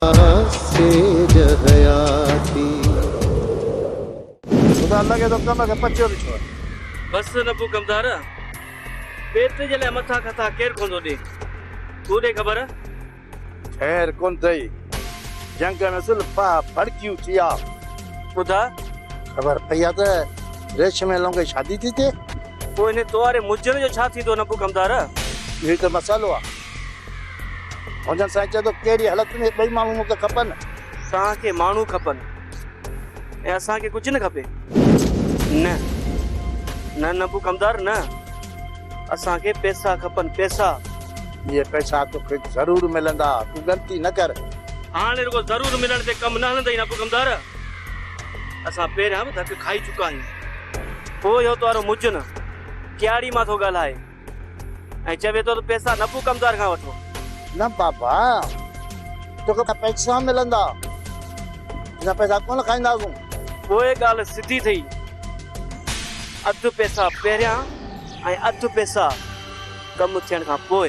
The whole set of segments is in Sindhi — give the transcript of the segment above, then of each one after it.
خدا لڳي ٿو ڪم کي پچيو به ڇو. بس نبو ڪمدار پيٽ جي لاء مٿا کٿا ڪير ڪون ٿو ڏي تون ڏي خبر. خير ڪون ٿئي جنگ ۾ زلفا ڀڙڪيون ٿيا. ٻڌاء. خبر پئي آ ته ريشم ۽ لونگي شادي ٿي ٿئي. پوء انهي تواري مجهن جو ڇا ٿيندو نبو ڪمدار. اهو ئي ته مسئلو آ. هجن. سائين چئي ٿو ڪهڙي حالت ۾ ٻئي ماڻهو مون کي کپن. توهان کي ماڻهو کپن ۽ اسان کي ڪجهه نه کپي. نه نه نبو ڪمدار نه اسان کي پئسا کپن پئسا. اهي پئسا توکي ضرور ملندا تون ڳڻتي نه ڪر. هاڻ رڳو ضرور ملڻ تي ڪم نه هلندئي نبو ڪمدار اسان پهريان به ڌڪ کائي چڪا آهيون. پوء اهو توهارو مجن ڪياڙي مان ٿو ڳالهائي. ۽ چوي ٿو ته پئسا نه ڪو ڪمدار کان وٺو. نه بابا توکي ته پئسا ملندا اسان پئسا ڪونه کائينداسون. پوء ڳالهه سڌي ٿئي اڌ پئسا پهريان ۽ اڌ پئسا ڪم ٿيڻ کان پوء.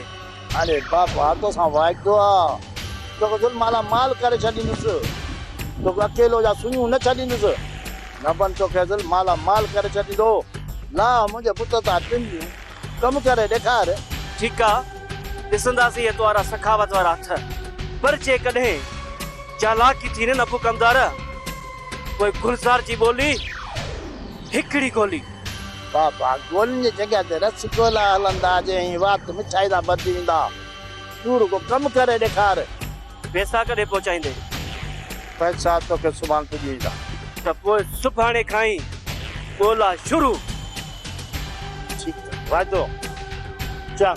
اري بابا تو سان وعدو آ توکي گل مالا مال ڪري ڇڏيندس توکي اڪيلو يا سنيون نه ڇڏيندس ربن توکي گل مالا مال ڪري ڇڏيندو لا منهنجي بت تان ٽنڊيون ڪم ڪري ڏيکار. ٺيڪ آ ڏسنداسين هي توهارا سخاوت وارا هٿ پر جيڪڏهن چالاڪي ٿي نه نه ابو ڪمدار پوء گلزار جي ٻولي هڪڙي گولي. بابا گولن جي جڳهه تي رس گولا هلندا جي ۽ وات مٺائي سان ڀرجي ويندا. تون رڳو ڪم ڪري ڏيکار. پيسا ڪڏهن پهچائيندين؟ پئسا توکي سڀاڻ پڄي ويندا. ته پوء سڀاڻي کان ئي ڳولا شروع. ٺيڪ ته واعدو چڱ.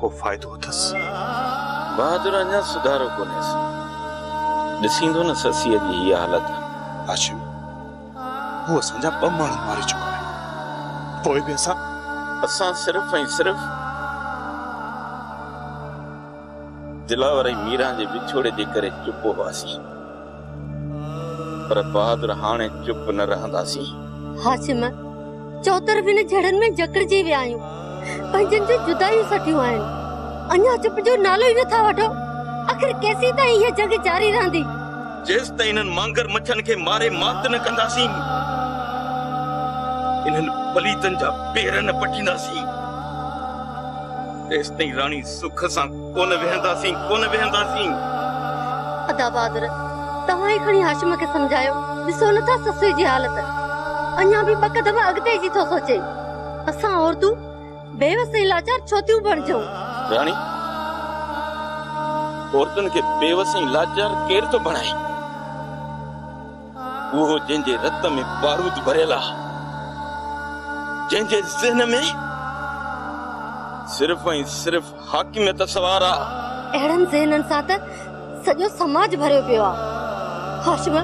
ڪو فائدو اٿس. بهادر اڃا سڌارو ڪونهي سي. ڏسيندو نه سسيء جي هيء حالت. هاشم، هو اسان جا ٻه ماڻهو ماري چڪو آهي. پوء به اسان. اسان صرف ۽ صرف دلاور ۽ ميران جي وڇوڙي جي ڪري چپ هئاسين. پر بهادر هاڻي چپ نه رهنداسين. هاشم، چوطرف هن جهڙن ۾ جڪڙجي ويا آهيون. پنهنجن جون جدايون سٺيون آهن. اڃا چپ جو نالو ئي نه ٿا وٺو. آخر ڪيسين تائين هيء جنگ جاري رهندي؟ جيستائين انهن مانگر مڇن کي ماري مات نه ڪنداسين. انهن پليتن جا پير نه پٽينداسين. تيستائين راڻي سک سان. ڪونه ويهنداسين ڪونه ويهنداسين. ادا بهادر توهان ئي کڻي هاشم کي سمجهايو ڏسو نه ٿا سسئي جي حالت اڃا به ٻه قدم اڳتي جي ٿو سوچي اسان عورتون بيوس ۽ لاچار ڇو ٿيون بڻجون. راڻي عورتن کي بيوس ۽ لاچار ڪير ٿو بڻائي اهو جنهن جي رت ۾ بارود ڀريل آ جنهن جي ذهن ۾ صرف ۽ صرف حاڪميت سوار آ. اهڙن ذهنن سان ته سڄو سماج ڀريو پيو آ. هاشم،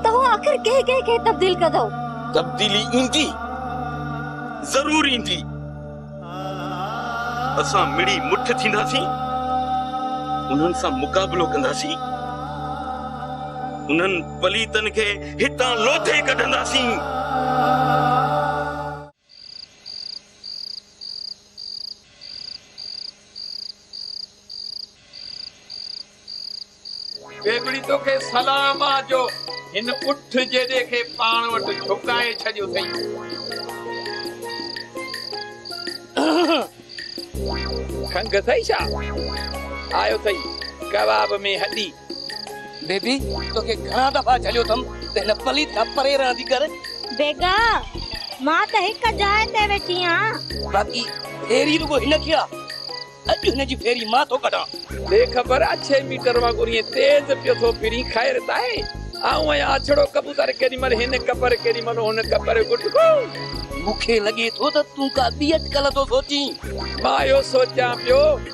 توهان آخر ڪنهن ڪنهن کي تبديل ڪندؤ؟ تبديلي ايندي، ضرور ايندي. اسان مڙي مٺ ٿينداسين، انهن سان مقابلو ڪنداسين. انهن پليتن کي هتان لوٿي ڪڍنداسين. ٻيٻڙي توکي سلام آ جو هن اٺ جيڏي کي پاڻ وٽ جهڪائي ڇڏيو اٿئي. کنگهه اٿئي ڇا؟ آيو اٿئي ڪباب ۾ هڏي. بيبي توکي گهڻا دفعا جهليو اٿم ته هن پليت کان پري رهندي ڪر. بيگا مان ته هڪ جاء تي ويٺي آهيان. باقي ڦيري رڳو هن کي آ. اڄ هن جي ڦيري مان ٿو ڪڍان. بي خبر آ ڇهه ميٽر وانگر ائين تيز پيو ٿو ڦرين خير ته آهي. آئون ائين آڇڙو ڪبوتر ڪيڏي مهل هن ڪپر ڪيڏي مهل هن ڪپر گٽڪو. مون کي لڳي ٿو ته تون ڪا ٻي اٽڪل ٿو سوچين. مان اهو سوچيان پيو.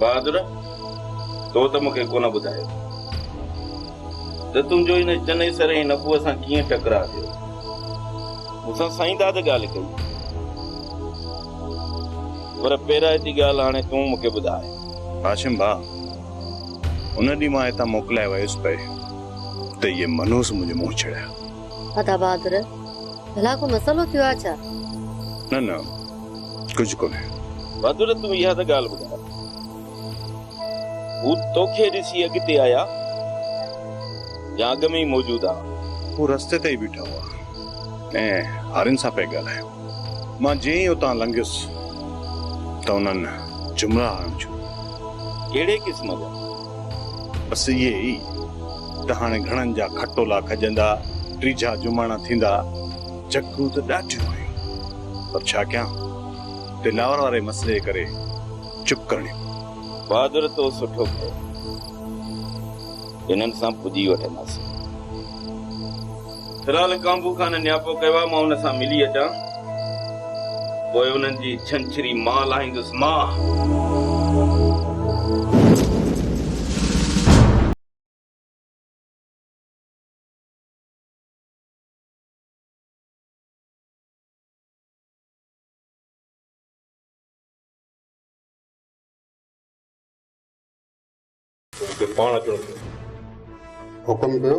بهادر! تو ته مون کي ڪونه ٻڌايو ته تنهنجو هن چني سر ۽ نبوء سان ڪيئن ٽڪراء ٿيو؟ مون سان سائين داد ڳالهه ڪئي، پر پيرائتي ڳالهه هاڻي تون مون کي ٻڌاء. هاشم ڀاء! ان ڏينهن مان هتان موڪلائي ويس پئي ته اهي منهوس منهنجو منهن ڇڙيا. ادا بهادر، ڀلا ڪو مسئلو ٿيو آهي ڇا؟ نه نه ڪجهه ڪونهي. بهادر تون اها ته ڳالهه ٻڌاء. هو توکي ڏسي اڳتي آيا يا اڳ ۾ ئي موجود ها؟ هو رستي تي ئي بيٺا هئا ۽ هارين سان پئي ڳالهايو. مان جئين ئي اتان لنگهيس ته انهن جملا هڻڻ شروع. ڪهڙي قسم جا؟ بس اهي ئي ته هاڻي گهڻن جا کٽولا کڄندا، ٽيجها جماڻا ٿيندا. جهڪون ته ڏاڍيون آيون، پر ڇا ڪيان، دلاور واري مسئلي ڪري چپ ڪرڻي پئي. بهادر تو سٺو ڪيو، هنن سان پڄي وٺنداسين. فلحال ڪانڀو خان نياپو ڪيو آهي، مان هن سان ملي اچان، پوء انهن جي ڇنڇري مان لاهيندس. مان. پوء مون کي پاڻ اچڻو پيو. حڪم ڪيو.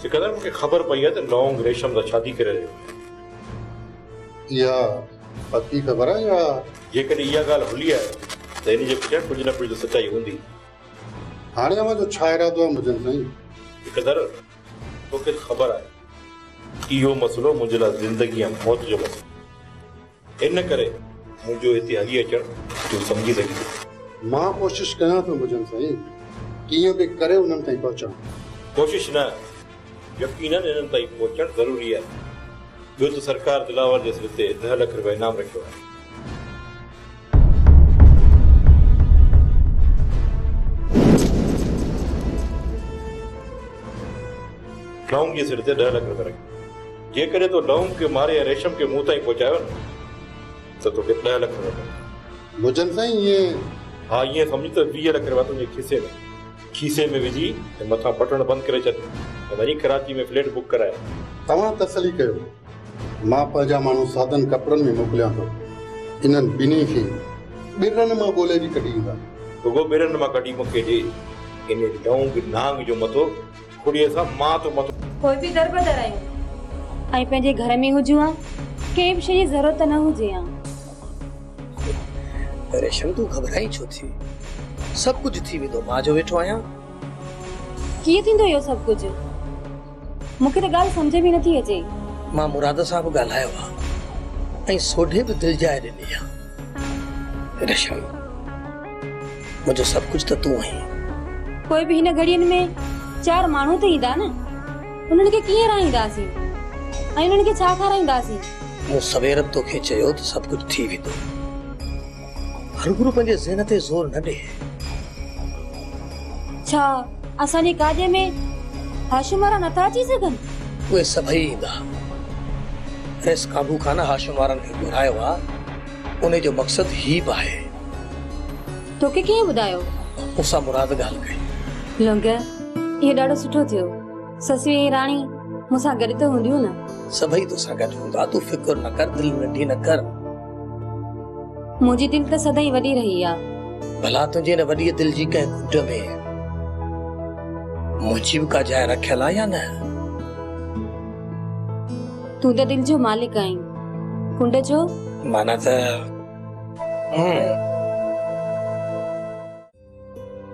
سڪندر مون کي خبر پئي آهي ته نونگ ريشم سان شادي ڪري رهيو آهي. اها پڪي خبر آهي يا. جيڪڏهن اها ڳالهه هلي آهي ته هن جي پٺيان ڪجهه نه ڪجهه ته سچائي هوندي. هاڻي اوهان جو ڇا ارادو آهي منهنجن سائين؟ سڪندر توکي ته خبر آهي اهو مسئلو منهنجي لاء زندگي يا موت جو مسئلو آهي. ان ڪري منهنجو هتي هلي اچڻ تون سمجهي سگهين ٿو. مان ڪوشش ڪيان ٿو مجن سائين، ڪيئن به ڪري انهن تائين پهچان. ڪوشش نه، يقينن انهن تائين پهچڻ ضروري آهي. ٻيو ته سرڪار دلاور جي سر تي ڏهه لک رپيا انعام رکيو آهي. ٽرائونگ جي سر تي ڏهه لک رپيا رکيا. جيڪڏهن تو ڊئونگ کي ماري ۽ ريشم کي مون تائين پهچايو نه ته توکي ڏهه لک روپيا ملندا. مجن سائين ائين؟ ها ائين سمجهه ته ويهه لک روپيا تنهنجي کيسي ۾ کيسي ۾ وجهي ۽ مٿان بٽڻ بند ڪري ڇڏ ۽ وڃي ڪراچي ۾ فليٽ بڪ ڪرائي. توهان تسلي ڪيو. مان پنهنجا ماڻهو سادن ڪپڙن ۾ موڪليان ٿو. انهن ٻنهي کي ٻرن مان ڳولي به ڪڍي ايندا. رڳو ٻرن مان ڪڍي مون کي ڏي. انهي ڊئونگ نهانگ جو مٿو ڪڙيء سان مان تو مٿو. پوء به در بدر آهيون. ۽ پنهنجي گهر ۾ هجون ها. ڪنهن به شيء جي ضرورت نه هجي ها. ريشم تون گهٻرائين ڇو ٿي. سڀ ڪجهه ٿي ويندو. مان جو ويٺو آهيان. ڪيئن ٿيندو اهو سڀ ڪجهه. مون کي ته ڳالهه سمجهه ۾ نٿي اچي. مان مراد سان به ڳالهايو ها. ۽ سوڍي به دل جاء ڏني ها. ريشم. منهنجو سڀ ڪجهه ته تون آهين. پوء به هن گهڙين ۾ چار ماڻهو ته ايندا نه. انهن کي ڪيئن رهائينداسين ۽ انهن کي ڇا کارائينداسين؟ مون سوير به توکي چيو ته سڀ ڪجهه ٿي ويندو. هرگرو پنهنجي ذهن تي زور نه ڏي. ڇا اسان جي گاڏيء ۾ هاشم وارا نٿا اچي سگهن؟ اهي سڀئي ايندا. ريس ڪابو کان نه هاشم وارن کي گهرايو آ. انهي جو مقصد هي به آهي. توکي ڪنهن ٻڌايو؟ مون سان مراد ڳالهه ڪئي. لونگيء، اهو ڏاڍو سٺو ٿيو. سسيون ۽ راڻي مون سان گڏ ته هونديون نه؟ سڀئي تو سان گڏ هوندا. تون فڪر نه ڪر. دل ننڍي نه ڪر. منهنجي دل ته سدائين وڏي رهي آ. ڀلا تنهنجي ان وڏيء دل جي ڪنهن گهٽ ۾ منهنجي به ڪا جاء رکيل آ يا نه؟ تون ته دل جو مالڪ آهين ڪنڊ جو مانا ته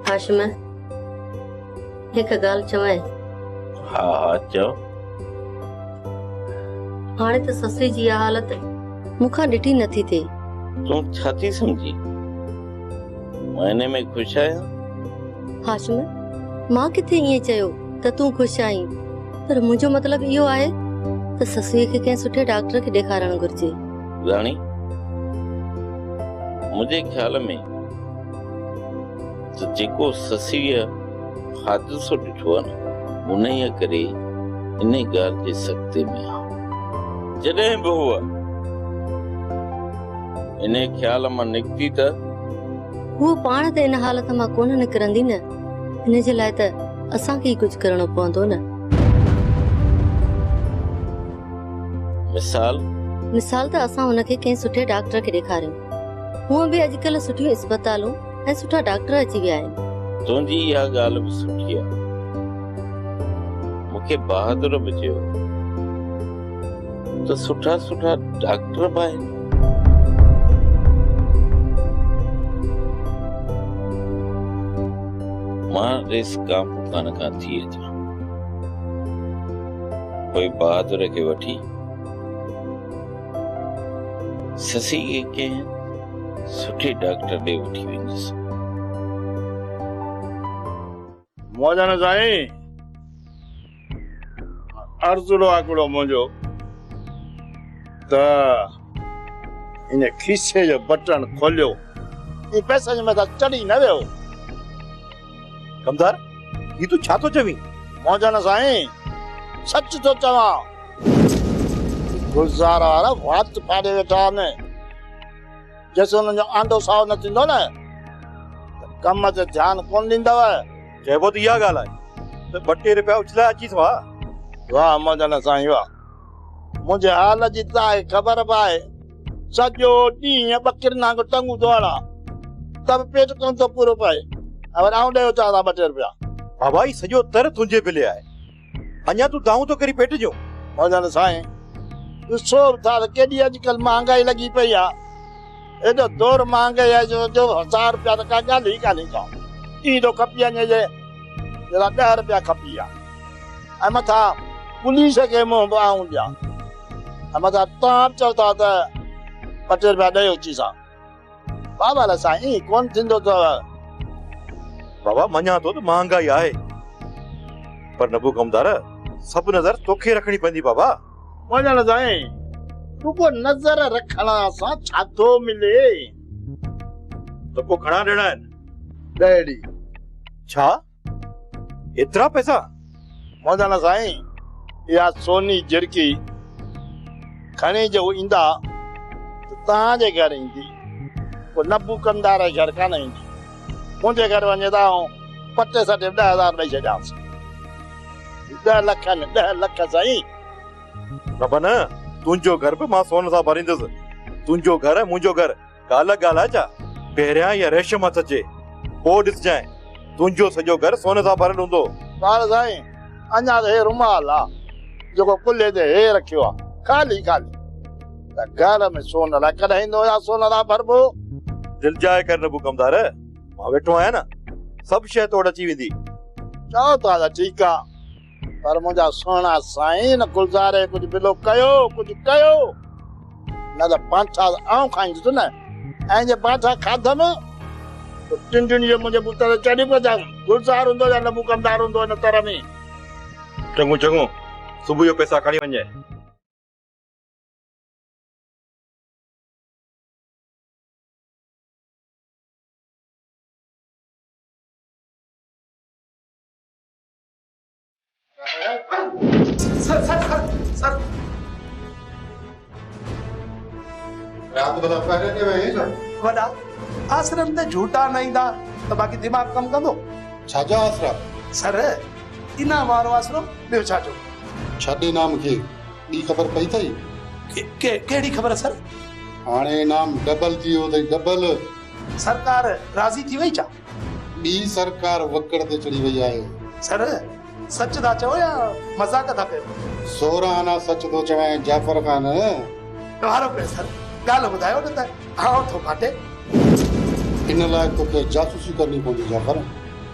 هاشم هڪ ڳالهه چوائين ها ها چو هاڻي ته سسري جي اها حالت مون کان ڏٺي نٿي ٿئي تون ڇا ٿي سمجهي مهيني ۾ خوش آهيان هاشم مان ڪٿي ائين چيو ته تون خوش آهين پر منهنجو مطلب اهو آهي ته سسويء کي ڪنهن سٺي ڊاڪٽر کي ڏيکارڻ گهرجي راڻي منهنجي خيال ۾ جيڪو سسويء حادثو ڏٺو آهي نه انهيء ڪري ان ڳالهه جي سختي ۾ آهي جڏهن به هو ان خيال مان نڪتي ته هو پاڻ ته ان حالت مان ڪونه نڪرندي نه ان جي لاء ته اسان کي ئي ڪجهه ڪرڻو پوندو نه. مثال؟ مثال ته اسان هن کي ڪنهن سٺي ڊاڪٽر کي ڏيکاريون. هونء به اڄڪلهه سٺيون اسپتالون ۽ سٺا ڊاڪٽر اچي ويا آهن. تنهنجي اها ڳالهه به سٺي آهي. مون کي بهادر به چيو. ته سٺا سٺا ڊاڪٽر به آهن. مان ريس ڪام کان کان ٿي اچان پوء بهادر کي وٺي سسي کي ڪنهن سٺي ڊاڪٽر ڏي وٺي ويندس. مولانا سائين ارزڙو آڪڙو منهنجو ته ان کيسي جو بٽڻ کوليو ۽ پئسن جي مٿان چڙهي نه ويو ڪمدار هي تون ڇا ٿو چوين مولانا سائين سچ ٿو چوان گلزار وارا وات ڦاڙي ويٺا آهن جيسين انهن جو آنڊو سائو نه ٿيندو نه ته ڪم تي ڌيان ڪونه ڏيندؤ. چئبو ته اها ڳالهه آهي ته ٻه ٽي رپيا اڇلايا اچيس ها. واهه مهجن سائين واهه. منهنجي حال جي توهان کي خبر به آهي. سڄو ڏينهن ٻڪرين وانگر ٽنگون ڌوئاڙا ته به پيٽ ڪونه ٿو پورو پئي ۽ وري آئون ڏيئي اچان ها ٻه ٽي رپيا. بابا هي سڄو تر تنهنجي بلي آهي. اڃا تون دانهون ٿو ڪرين پيٽ جون. ڀڳل سائين ڏسو ٿا ته ڪيڏي اڄڪلهه مهانگائي لڳي پئي آ. ايڏو دور مهانگائي آ جو جو هزار روپيا ته ڪا ڳالهه ئي ڪانهي ڪا. ائين ٿو کپي اڃ جي جيڏا ڏهه روپيا کپي آ. ۽ مٿا پوليس کي منهن به آئون ڏيان. ۽ مٿا تان به چئو ٿا ته ٻه ٽي روپيا ڏئي اچي سا. بابا لا سائين ايئن ڪونه ٿيندو اٿو. بابا مڃان ٿو ته مهانگائي آهي پر نبو ڪمدار سڀ نظر توکي رکڻي پوندي بابا. مڃان لا سائين رڳو نظر رکڻ سان ڇا ٿو ملي. ته پوء گهڻا ڏيڻا آهن. ڏهڙي. ڇا؟ ايترا پئسا؟ مولانا سائين اها سوني جرڪي کڻي جو ايندا ته توهان جي گهر ايندي، پوء نبوڪندار جي گهر ڪانه ايندي. منهنجي گهر وڃي ته آئون پٽي سٽي به ڏهه هزار ڏئي ڇڏيانس. هي ڏهه لک آهن، ڏهه لک سائين. بابا نه، تنهنجو گهر به مان سون سان ڀريندس. تنهنجو گهر ۽ منهنجو گهر. ڳالهه ڳالهه جا پهريان اها ريشم هٿ اچي، پوء ڏسجانء، تنهنجو سڄو گهر سون سان ڀريل هوندو. ٻار سائين، اڃا ته هي رومال آ، جيڪو ڪلهي تي هي رکيو آ، خالي خالي. ته گهر ۾ سون الائي ڪڏهن ايندو يا سون سان ڀربو؟ دل جاء ڪر نبو ڪمدار، مان ويٺو آهيان نه، سڀ شيء تو وٽ اچي ويندي. چئو ٿا ته ٺيڪ آ. پر منهنجا سهڻا سائين ان گلزاري ڪجهه بلو ڪيو ڪجهه ڪيو نه ته پانٺا آئون کائيندس نه ۽ جي پانٺا کاڌم ته ٽن ٽن جو منهنجي بوت تي چڙهي پوندس گلزار هوندو يا لبو ڪمدار هوندو ان تر ۾ چڱو چڱو صبح جو پيسا کڻي وڃجانء. وڏا آسرن تي جهوٽا نه ايندا ته باقي دماغ ڪم ڪندو؟ ڇا جا آسرا؟ سر انعام وارو آسرو ٻيو ڇا جو؟ ڇڏ انعام کي ٻي خبر پئي اٿئي؟ ڪهڙي خبر سر؟ هاڻي انعام ڊبل ٿي ويو اٿئي ڊبل. سرڪار راضي ٿي وئي ڇا؟ ٻي سرڪار وڪڙ تي چڙهي وئي آهي. سر، سچ ٿا چئو يا مذاق ٿا ڪيو؟ سورهه آنا سچ ٿو چوين جعفر خان. ڪهارو پئي سر، ڳالهه ٻڌايو نه ته آئون ٿو ڦاٽي. ان لاء توکي جاسوسي ڪرڻي پوندي جعفر.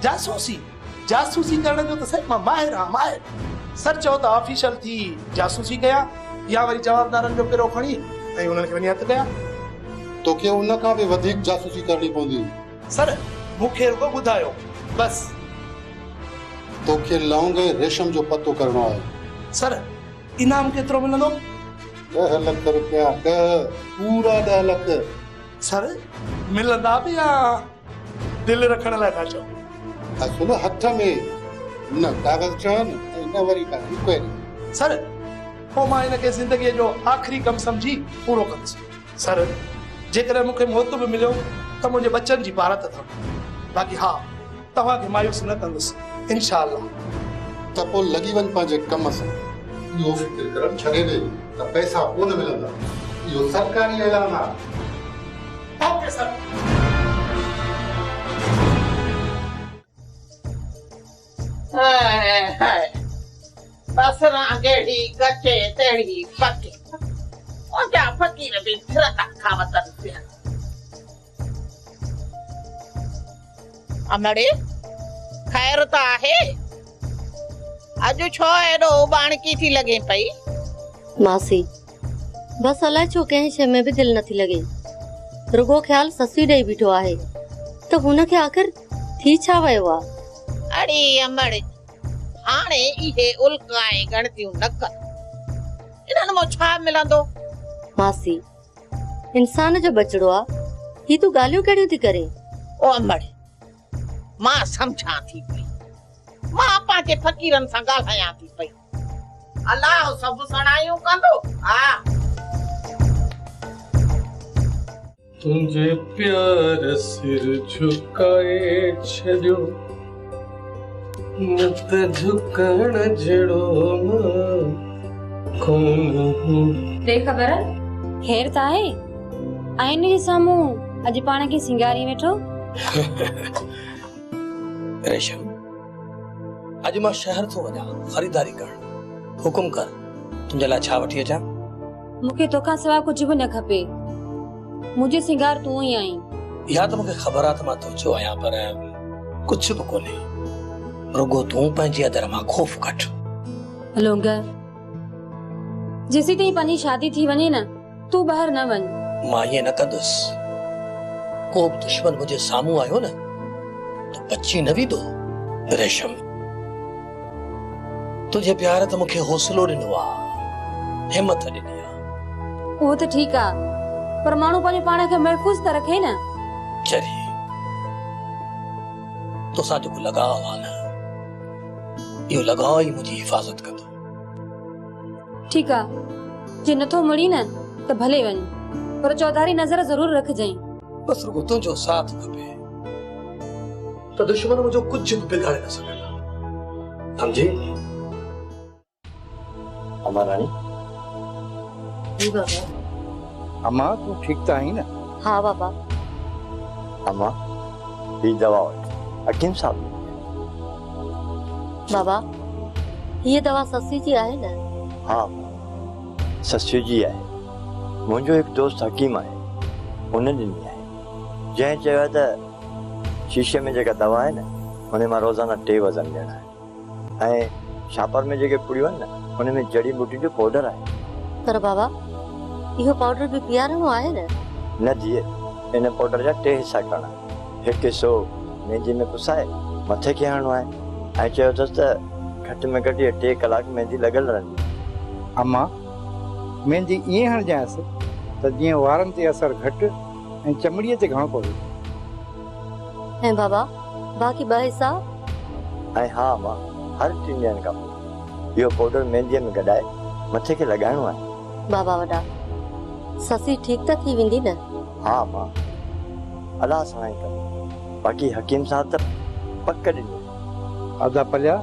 جاسوسي؟ جاسوسي ڪرڻ جو ته سر مان ماهر آهيان ماهر. سر چئو ته آفيشل ٿي جاسوسي ڪيان يا وري جوابدارن جو پرو کڻي ۽ انهن کي وڃي هٿ ڪيان. توکي ان کان به وڌيڪ جاسوسي ڪرڻي پوندي. سر مون کي رڳو ٻڌايو بس. تو کي لونگ ۽ ريشم جو پتو ڪرڻو آهي. سر انعام ڪيترو ملندو. ڏهه لک رپيا ڏهه پورا ڏهه لک. سر ملندا به يا دل رکڻ لاء ٿا چئو. اصل هٿ ۾ نه ڪاغذ چڙهن ۽ نه وري ڪا انڪوائري. سر پوء مان هن کي زندگيء جو آخري ڪم سمجهي پورو ڪندس. سر، جيڪڏهن مون کي موت به مليو ته منهنجي ٻچن جي پارت اٿم، باقي ها، توهان کي مايوس نه ڪندس، انشاء الله. ته پوء لڳي وڃ پنهنجي ڪم سان. اهو فڪر ڪرڻ ڇڏي ڏي ته پئسا ڪونه ملندا، اهو سرڪاري اعلان آهي. Okay sir. هاء هاء بصران جهڙي ڪچي تهڙي پڪي اوچا فقير به ڦرتا ٿا وتن پيا. امڙي خير ته آهي. اڄ ڇو ايڏو اوٻاڻڪي ٿي لڳين پئي. ماسي بس الائي ڇو ڪنهن شيء ۾ به دل نٿي لڳي رڳو خيال سسئي ڏئي بيٺو آهي ته هن کي آخر ٿي ڇا ويو آ؟ اڙي امڙ! هاڻي اهي الڪ ۽ ڳڻتيون نه ڪر. انهن مان ڇا ملندو؟ ماسي! انسان جو ٻچڙو آ، هي تون ڳالهيون ڪهڙيون ٿي ڪرين؟ او امڙ! مان سمجهان ٿي پئي. مان پنهنجي فقيرن سان ڳالهايان ٿي پئي. الله سڀ سڻايون ڪندو آ. تنهنجي پيار سر جهڪائي ڇڏيو نه ته جهڪڻ جهڙو نه ڪونه. بي خبر خير ته آهي؟ آئيني جي سامهون اڄ پاڻ کي سينگاري ويٺو. ريشم. اڄ مان شهر ٿو وڃان خريداري ڪرڻ حڪم ڪر تنهنجي لاء ڇا وٺي اچان مون کي توکان سواء ڪجهه به نه کپي منهنجو سنگار تون ئي آهين اها ته مون کي خبر آهي ته مان تنهنجو آهيان پر ڪجهه به ڪونهي رڳو تون پنهنجي ادر مان خوف ڪڍ لونگ جيسين تائين پنهنجي شادي ٿي وڃي نه تون ٻاهر نه وڃ. مان ائين نه ڪندس. ڪو به دشمن منهنجي سامهون آيو نه ته بچي نه ويندو. ريشم! تنهنجي پيار ته مون کي حوصلو ڏنو آ، همٿ ڏني آ. اهو ته ٺيڪ آ، پر ماڻهو پنهنجو پاڻ کي محفوظ ته رکي نه. چري! توسان جيڪو لڳاء آ نه، اهو لڳاء ئي منهنجي حفاظت ڪندو. ٺيڪ آ جي نٿو مڙين ته ڀلي وڃ پر چوڌاري نظر ضرور رکجئين بس رڳو تنهنجو ساٿ کپي ته دشمن منهنجو ڪجهه به بگاڙي نه سگهندا سمجهي اما راڻي جي بابا امان تون ٺيڪ ته آهين نه؟ ها بابا. امان هي دوا وٺ حڪيم صاحب ڏني آهي. بابا هيء دوا سسي جي آهي نه؟ ها امان سسي جي آهي. منهنجو هڪ دوست حڪيم آهي ان ڏني آهي. جنهن چيو آهي ته شيشي ۾ جيڪا دوا آهي نه ان مان روزانه ٽي وزن ڏيڻا آهن. ۽ ڇاپر ۾ جيڪي پڙيون آهن نه ان ۾ جڙي ٻوٽين جو پوڊر آهي. پر بابا اهو پوڊر به پيارڻو آهي نه؟ نه ڌيء ان پوڊر جا ٽي حصا ڪرڻا آهن. هڪ حصو مينديء ۾ پسائي مٿي کي هڻڻو آهي ۽ چيو اٿس ته گهٽ ۾ گهٽ اهي ٽي ڪلاڪ ميندي لڳل رهندي. اما ميندي ائين هڻجانئس ته جيئن وارن تي اثر گهٽ ۽ چمڙيء تي گهڻو پوي. ۽ بابا، باقي ٻه حصا؟ ۽ ها امان، هر ٽن ڏينهن کان پوء، اهو پوڊر مينديء ۾ گڏائي، مٿي کي لڳائڻو آهي. بابا وڏا، سسي ٺيڪ ته ٿي ويندي نه؟ ها امان، الله ساڻاهي ڪندو. باقي حڪيم صاحب ته پڪ ڏني. ادا پليا،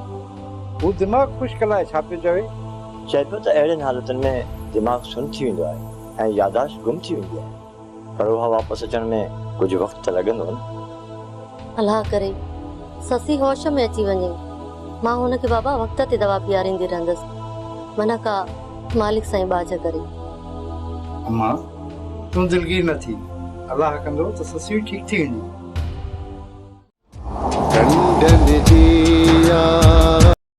هو دماغ خشڪ لاء ڇا پيو چوي؟ چئبو ته اهڙين حالتن ۾ دماغ سن ٿي ويندو آهي ۽ ياداشت گم ٿي ويندي آهي. پر اها واپس اچڻ ۾ ڪجهه وقت ته لڳندو نه؟ الله ڪري سسي هوش ۾ اچي وڃي. مان هن کي بابا وقت تي دوا پياريندي رهندس. منه ڪا مالڪ سائين ٻاجهه ڪري. اما تون دلگير نه ٿي. الله ڪندو ته سسي به ٺيڪ ٿي ويندي. ڍنڍ ڍنڍ جي يارا.